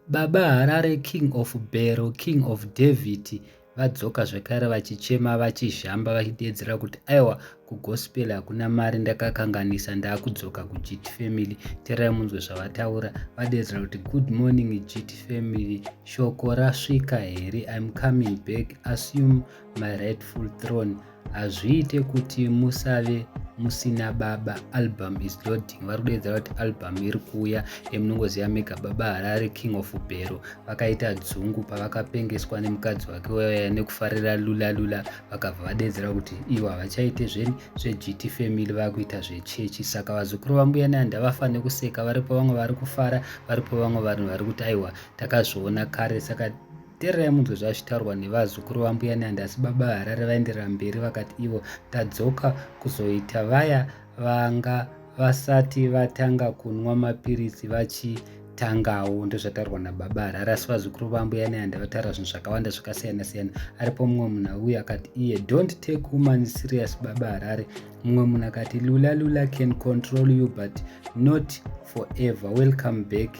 Baba Harare king of Bhero king of David vadzoka zvekare vachichema vachizhamba vachideedzera kuti aiwa kugospel hakuna mari ndakakanganisa ndakudzoka kugt family terai munzwe zvavataura vadeedzera kuti good morning gt family shoko rasvika here im coming back assume my rightful throne hazviite kuti musave musina baba album is loading vari kudeedza vati album iri kuuya emunongoziva mega baba harare king of bhero vakaita dzungu pavakapengeswa nemukadzi wake waya nekufarira lula lula vakabva vadeedzera kuti ivo havachaite zveni zvegt family vakuita zvechechi saka vazukuru vambuya nanda vafa nekuseka varipo vamwe vari kufara varipo vamwe vanhu vari kuti aiwa takazviona kare saka tererai munzwe zvazvitaurwa nevazukuru vambuya nyanda asi baba harare vaenderera mberi vakati ivo tadzoka kuzoita vaya vanga vasati vatanga kunwa mapiritsi vachi tangawo ndozvataurwa nababa harari asi vazukuru vambo yani handi vataura zvinhu zvakawanda zvakasiyana siyana aripo mumwe munhu auye akati iye don't take woman serious baba harari mumwe munhu akati lula lula can control you but not forever welcome back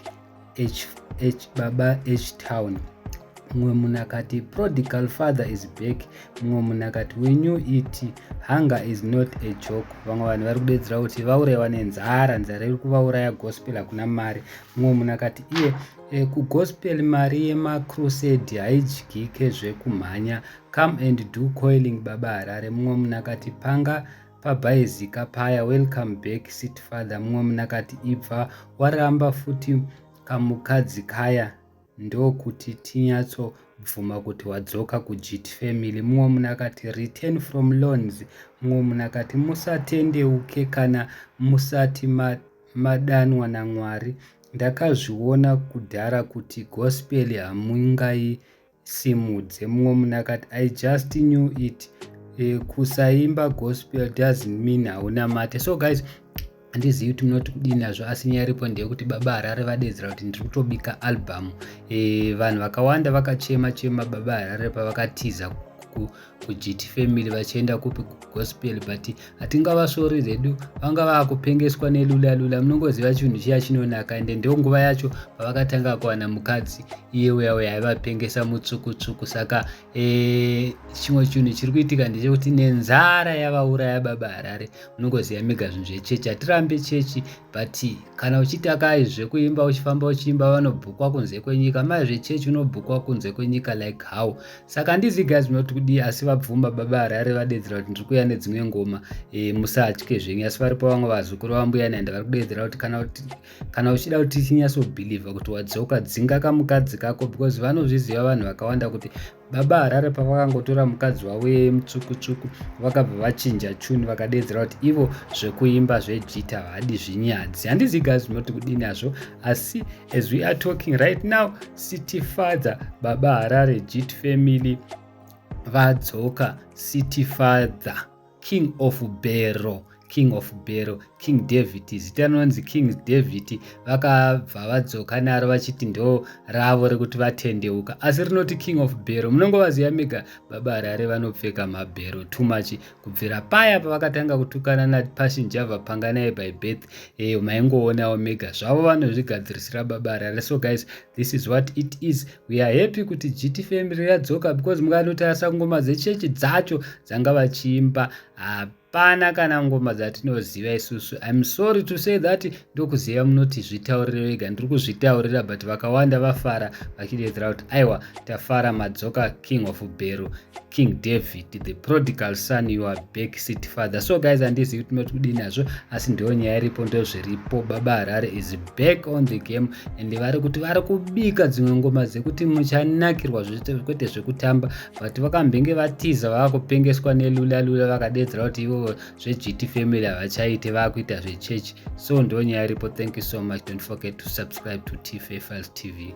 H, H, baba htown mumwe munhu akati prodigal father is back mumwe munhu akati we new et hunger is not a joke vamwe vanhu vari kudedzera kuti vauraiwa nenzara nzara iri kuvauraya gospel hakuna mari mumwe munhu akati iye e, kugospel mari yemacrusade haidyike zvekumhanya come and do coiling baba harare mumwe munhu akati panga pabhaizika paya welcome back sit father mumwe munhu akati ibva waramba futi kamukadzi kaya ndokuti tinyatso bvuma kuti wadzoka kujit family mumwe munhu akati return from loans mumwe munhu akati musatendeuke kana musati madanwa namwari ndakazviona kudhara kuti gospel hamungai simudze mumwe munhu akati i just knew it eh, kusaimba gospel doesn't mean hauna mate so guys handizivi kuti munoti kudii nazvo asi nyaya iripo ndeyekuti baba harare vadedzera kuti ndiri kutobika album e, vanhu vakawanda vakachema chema baba harare pavakatiza kugt family vachienda kupi kugospel but hatingavasvori redu vanga vakupengeswa nelula lula munongoziva chinhu chiya chinonaka ende ndo nguva yacho pavakatanga kuwana mukadzi iye uya uya aivapengesa mutsuku tsuku saka eh, chimwe chinhu chiri kuitika ndechekuti nenzara yavauraya baba harare munongoziva mega zvinhu zvechechi hatirambe chechi but kana uchiti akai zvekuimba uchifamba uchiimba vanobhukwa kunze kwenyika mai zvechechi unobhukwa kunze kwenyika like how saka handizi guys munoti kudii asi vabvuma baba harare vadedzera kuti ndiri kuuya nedzimwe ngoma e, musatye zvenyu asi varipo vamwe vazukuru vambuya naenda vari kudedzera kuti kana, kana uchida kuti tinyatsobhilivha kuti wadzoka dzinga kamukadzi kako because vanozviziva vanhu vakawanda kuti Baba Harare pavakangotora mukadzi wavo yeye mutsvukutsvuku vakabva vachinja chuni vakadeedzera kuti ivo zvekuimba zvejita havadi zvinyadzi handizi gazi zvinoti kudini hazvo asi as we are talking right now city father baba Harare jit family vadzoka city father king of bero king of bero king david zita rinonzi king david vakabva vadzoka naro vachiti ndo ravo rekuti vatendeuka asi rinoti king of bero munongovaziva mega baba harare vanopfeka mabhero too much kubvira paya pavakatanga kutukana napassion java panga naye by birth eyo eh, maingoonawo mega zvavo vanozvigadzirisira baba harare so guys this is what it is We are happy kuti GT family yadzoka because mukanotarisa ngoma dzechechi dzacho dzanga vachiimba hapana kana ngoma dzatinoziva isusu. I'm sorry to say that ndokuziva munoti zvitaurire vega ndiri kuzvitaurira but vakawanda vafara vachidedzera kuti aiwa tafara madzoka king of Beru. king david the prodigal son your back seat father so guys handizivi kuti mati kudii nazvo asi ndiyo nyaya iripo ndozviripo baba harare is back on the game and vari kuti vari kubika dzimwe ngoma dzekuti muchanakirwa kwete zvekutamba but vakambenge vatiza vava kupengeswa nelulalula vakadedzera kuti ivo zvegt family havachaite vava kuita zvechechi so ndiyo nyaya iripo thank you so much don't forget to subscribe to tfa files tv